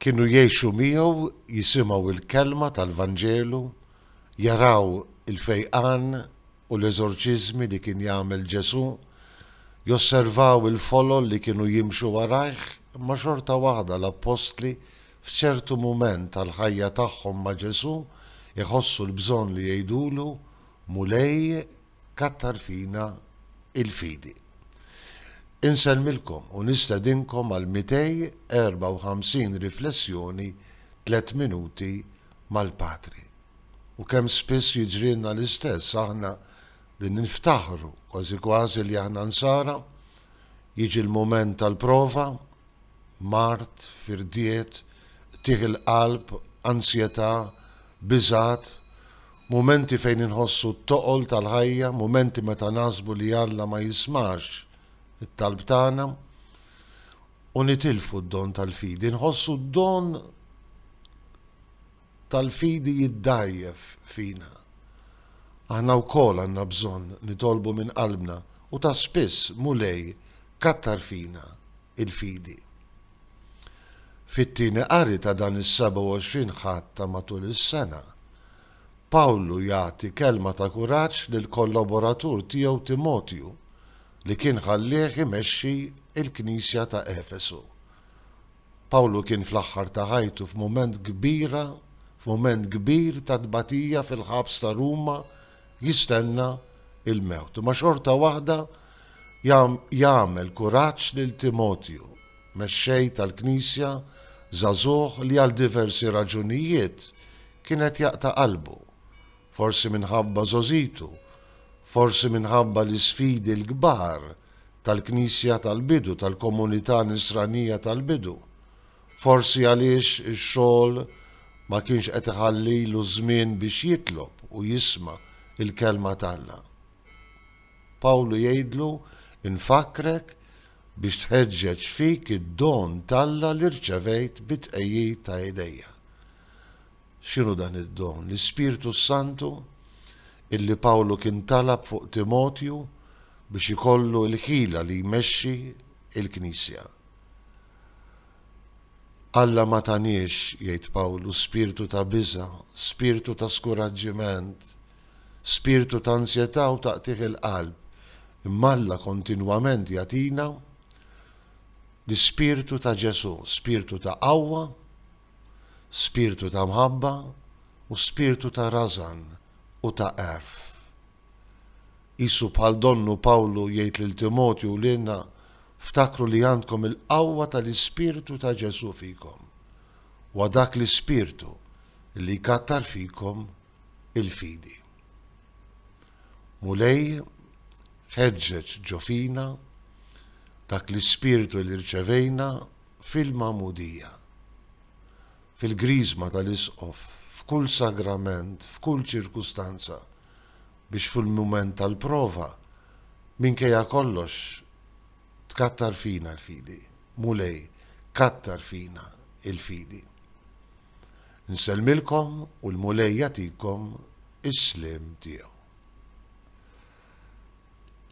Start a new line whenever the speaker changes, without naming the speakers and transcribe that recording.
Kienu jgħixu miegħu, jisimgħu l-kelma tal-Vanġelu, jaraw il-fejqan u l-eżorċiżmi li kien jagħmel Ġesù, josservaw il-folol li kienu jimxu warajh, imma xorta waħda l-appostli f'ċertu mument tal-ħajja tagħhom ma' Ġesù jħossu l-bżonn li jgħidulu, Mulej, Kattar fina il-fidi. Insellmilkom u nistedinkom għal 254 riflessjoni Tliet Minuti mal-Patri. U kemm spiss jiġrilna l-istess, aħna li niftaħru kważi kważi li aħna Nsara, jiġi l-mument tal-prova, mard, firdiet, qtigħ il-qalb, ansjetà, biżgħat, mumenti fejn inħossu t-toqol tal-ħajja, mumenti meta naħsbu li Alla ma jismax it-talb tagħna, u nitilfu d-don tal-fidi. Inħossu d-don tal-fidi jiddgħajjef fina. Aħna wkoll għandna bżonn nitolbu minn qalbna, u ta' spiss, Mulej, kattar fina l-fidi. Fit-tieni qari ta' dan is-27 Ħadd ta' matul is-sena, Pawlu jagħti kelma ta' kuraġġ lill-kollaboratur tiegħu Timotju li kien ħallieh imexxi l-Knisja ta' Efesu. Pawlu kien fl-aħħar ta' ħajtu f'mument kbira f'mument kbir ta' tbatija fil-ħabs ta' Ruma jistenna il-mewt. Imma xorta waħda jagħmel kuraġġ lil Timotju, mexxej tal-Knisja żagħżugħ li għal diversi raġunijiet kien qed jaqta' qalbu. Forsi minħabba żgħożitu, forsi minħabba l-isfidi l-kbar tal-Knisja tal-bidu, tal-komunità Nisranija tal-bidu. Forsi għaliex ix-xogħol ma kienx qed iħallilu żmien biex jitlob u jisma' l-Kelma t'Alla. Pawlu jgħidlu, Infakkrek biex tħeġġeġ fik id-don t'Alla li rċevejt bit-tqegħid ta' idejja. X'inhu dan id-don? L-Ispirtu s-Santu illi Pawlu kien talab fuq Timotju biex ikollu l-ħila li jmexxi l-Knisja. Alla ma taniex, jgħid Pawlu, spirtu ta' biża', spirtu ta' skuraġġiment, spirtu ta' ansjetà u ta' qtigħ il-qalb, imma Alla kontinwament jagħtina l-Ispirtu ta' Ġesù, spirtu ta' qawwa spirtu ta' mħabba u spirtu ta' rażan u ta' għerf. Qisu bħal donnu Pawlu jgħid lil Timotju u lilna, Ftakru li għandkom il-qawwa tal-ispirtu ta' Ġesù fikom. Huwa dak l-ispirtu li jkattar fikom il-fidi. Mulej, ħeġġeġ ġo fina dak l-ispirtu li rċevejna fil-Magħmudija, fil-Griżma tal-Isqof, f'kull sagrament, f'kull ċirkustanza, biex fil-mument tal-prova, minkejja kollox, tkattar fina l-fidi. Mulej, kattar fina l-fidi. Nsellmilkom u l-Mulej jagħtikom is-sliem tiegħu.